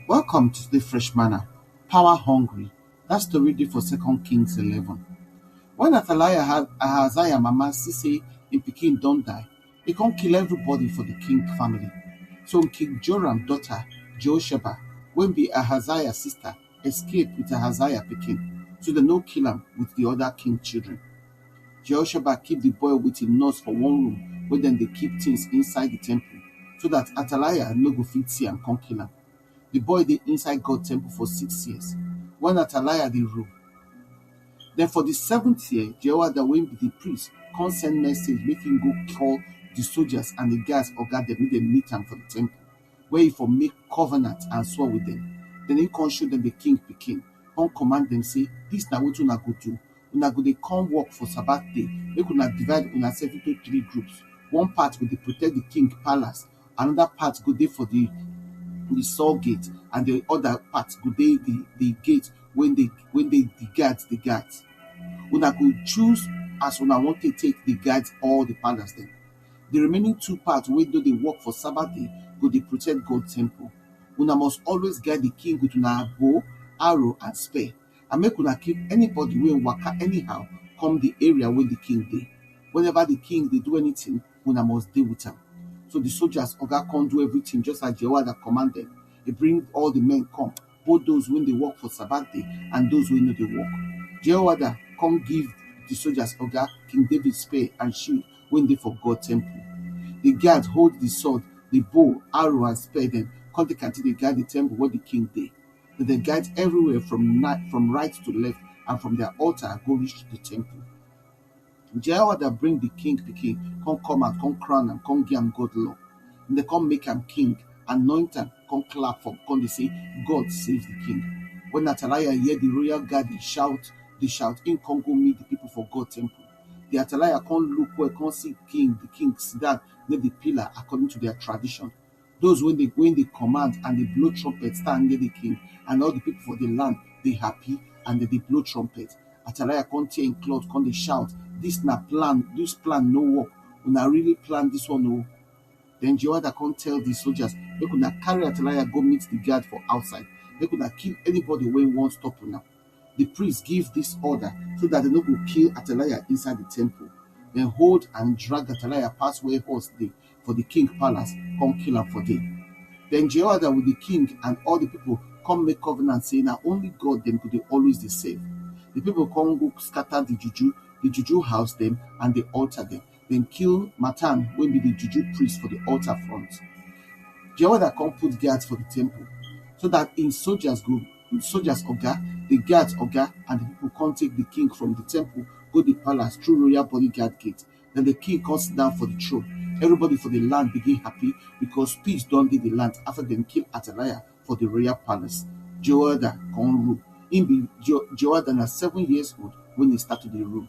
Welcome to today fresh manna, power hungry. That story dey for Second Kings 11. When Athaliah Ha- Ahaziah mama see say im pikin don die, e come kill everybody for the king family. So King Joram daughter Jehosheba, wey be Ahaziah sister, escape with Ahaziah pikin, so dem no kill am with the other king children. Jehoshaphat keep the boy with him nurse for one room where dem dey keep things inside the temple, so that Athaliah no go fit see am come kill am. The boy dey inside God temple for six years, when Athaliah dey rule. Then for the seventh year, Jehoiada wey be the priest come send message make him go call the soldiers and the guards oga dem make dem meet am for the temple. where he for make covenant and swore with them. Then he come show them the king pikin, come command them say, This na wetin una go do. Una go dey come work for Sabbath day, make una divide una self into three groups. One part go dey protect the king palace, another part go dey for the the saw gate, and the other part go dey the the gate when they when they the guards the guards. Una go choose as una want to take the guards all the palace them. Di remaining two part wey no dey work for Sabbath day go dey protect God temple. Una must always guide di king with una bow, arrow and spear and make una kill anybody wey waka anyhow come di area wey di king dey. Whenever di king dey do anything, una must dey with am. So di soldiers oga come do everything just as Jehoiada command dem. E bring all di men come. both those wey dey work for Sabbath day and those wey no dey work. Jehoiada come give the soldiers oga King David spear and shield wey dey for God temple. The guards hold the sword, the bow, arrow and spear dem come take am take dey guide the temple where the king dey. Dem dey guide everywhere from from right to left and from their altar go reach the temple. Jehovah da bring di king pikin kon kom and kon crown am kon giam God law. Dem da kon make am king, anoint am, kon clap for kon dey sey, God save di king. Wen Ataliah hear di royal guard dey shout dey shout, im kon go meet di pipol for God temple. Di Ataliah kon look well kon si king, di king sidan near di pillar akordin to dia tradishon. Those when they when they command and they blow trumpet stand near the king, and all the people for the land they happy and they, they blow trumpet. Atalaya come tear in cloth, come they shout, This na plan, this plan no work. Una really plan this one no. Then Jehoiada come tell the soldiers, make una carry Atalaya go meet the guard for outside. Make una kill anybody when won't stop una. di priest give dis order so dat dem no go kill Athaliah inside di temple. Dem hold and drag Athaliah pass where horse dey for di king palace, come kill am for there. Den Jehoiada with di king and all di people come make covenant say na only God dem go dey always dey serve. Di people come go scatter di juju, di juju house dem and di altar dem. Dem kill Mattan wey be di juju priest for di altar front. Jehoiada kon put guards for di temple, so dat hin sojas go sojas oga, di guards oga and di pipol kon take di king from di temple go di palace thru royal bodyguard gate. Den di king kon sidon for di throne. Evribody for di land begin happy, bikos peace don dey di land afta dem kill Ataliah for di royal palace. Jehoiada kon rule. Hin be Jehoiada na seven years old wen hin start to dey rule.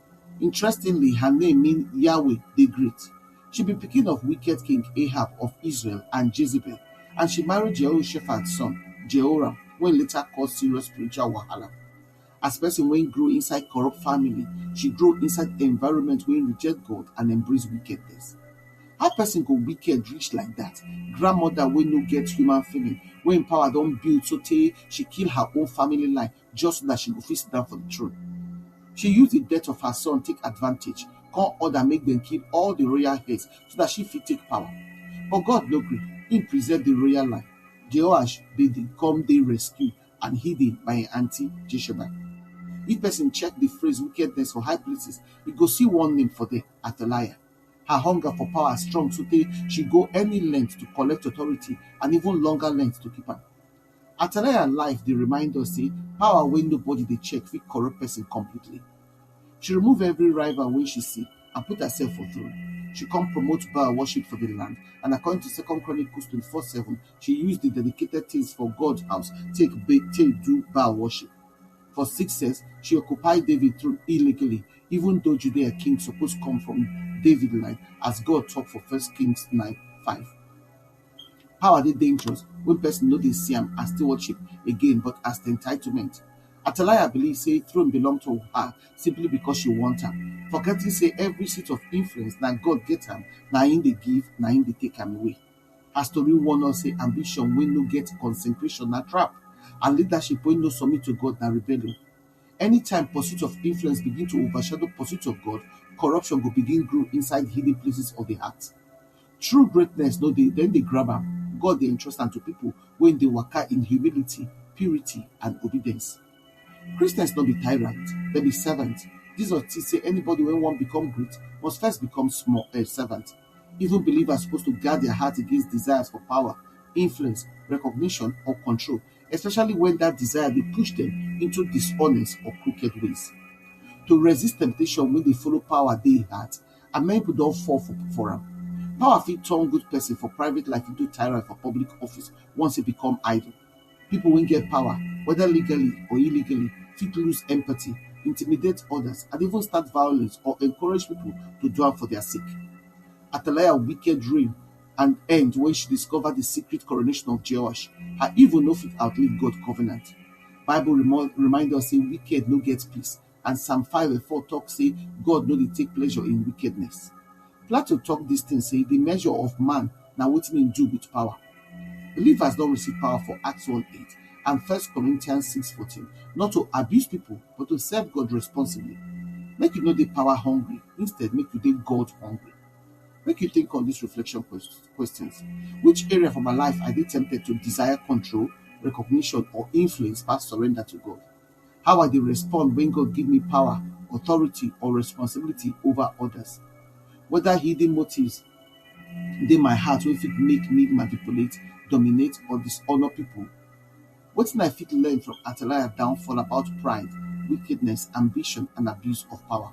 Interestingly, her name mean Yahweh dey great. She be pikin of wicked king Ahab of Israel and Jezebel, and she marry Jehoshaphat son, Jehoram, wey later cause serious spiritual wahala. As person wey grow inside corrupt family, she grow inside environment wey reject God and embrace wickedness. How person go wicked reach like that? Grandmother wey no get human feeling, wey im power don build sotey she kill her own family line just so that she go fit sit down for the throne. She use the death of her son take advantage, come order make them kill all the royal heads so that she fit take power. But God no gree, he preserve the royal line. Jehoash they come they rescue and hidden by an auntie Jesheba. If person check the phrase wickedness for high places, he go see one name for them, Athaliah. Her hunger for power strong so she go any length to collect authority and even longer length to keep her. Atalaya life dey remind us say power wey nobody dey check fit corrupt person completely. She remove every rival wey she see and put herself for throne. She come promote Baal worship for the land and according to Second Chronicles twenty four seven, she use the dedicated things for God house take ba- take do Baal worship. For six sense, she occupy David throne illegally, even though Judea king suppose come from David line, as God talk for First Kings nine five. Power dey dangerous wen person no dey see am as stewardship again but as entitlement. Atalaya believe sey throne belong to her simply because she want am forgetting sey every seat of influence na God get am na im dey give na im dey take am away. Her story warn us sey ambition wey no get consecration na trap and leadership wey no submit to God na rebellion. Anytime pursuit of influence begin to overshadow pursuit of God, corruption go begin grow inside hidden places of de heart. True greatness no dey dem dey grab am, God dey entrust am to pipo wey dey waka in humility, purity and obedience. Christians no be tyrant, dem be servant, Jesus teach sey anybody wey wan become great must first become small um servant. Even believers suppose to guard dia heart against desires for power, influence, recognition or control especially wen dat desire dey push dem into dishonest or crooked ways. To resist temptation wey dey follow power dey hard. and many pipo don fall for for am. Power fit turn good pesin for private life into tyrant for public office once e become idle. Pipo wey get power weda legally or illegally fit lose empathy, intimidate odas and even start violence or encourage pipo to do am for dia sake. Atalaya wicked reign and end wen she discover di secret coronation of Jehoash, her evil no fit outlive God covenant. Bible remind us sey wicked no get peace And Psalm 5 and 4 talk say God no dey take pleasure in wickedness. Plato talk this thing say the measure of man na wetin him do with power. Believers don receive power for Acts 1 8 and First Corinthians 6 14, not to abuse people, but to serve God responsibly. Make you no dey power hungry, instead, make you dey God hungry. Make you think on these reflection ques- questions Which area for my life I dey tempted to desire control, recognition, or influence past surrender to God? How I dey respond when God give me power, authority, or responsibility over others? Whether hidden motives dey my heart wey fit make me manipulate, dominate, or dishonor people? Wetin I fit learn from Athaliah downfall about pride, wickedness, ambition, and abuse of power?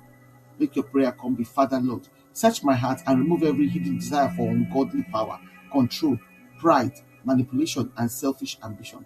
Make your prayer come be, Father Lord, search my heart and remove every hidden desire for ungodly power, control, pride, manipulation, and selfish ambition.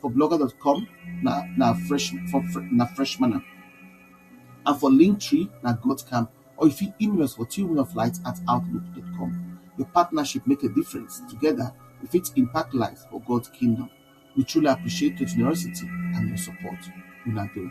for blogger dot com na na fresh for na fresh manner and for linktree na god camp or you fit email us for twomenoflight at outlook dot com your partnership make a difference together we fit impact lives for god kingdom we truly appreciate your generosity and your support una do.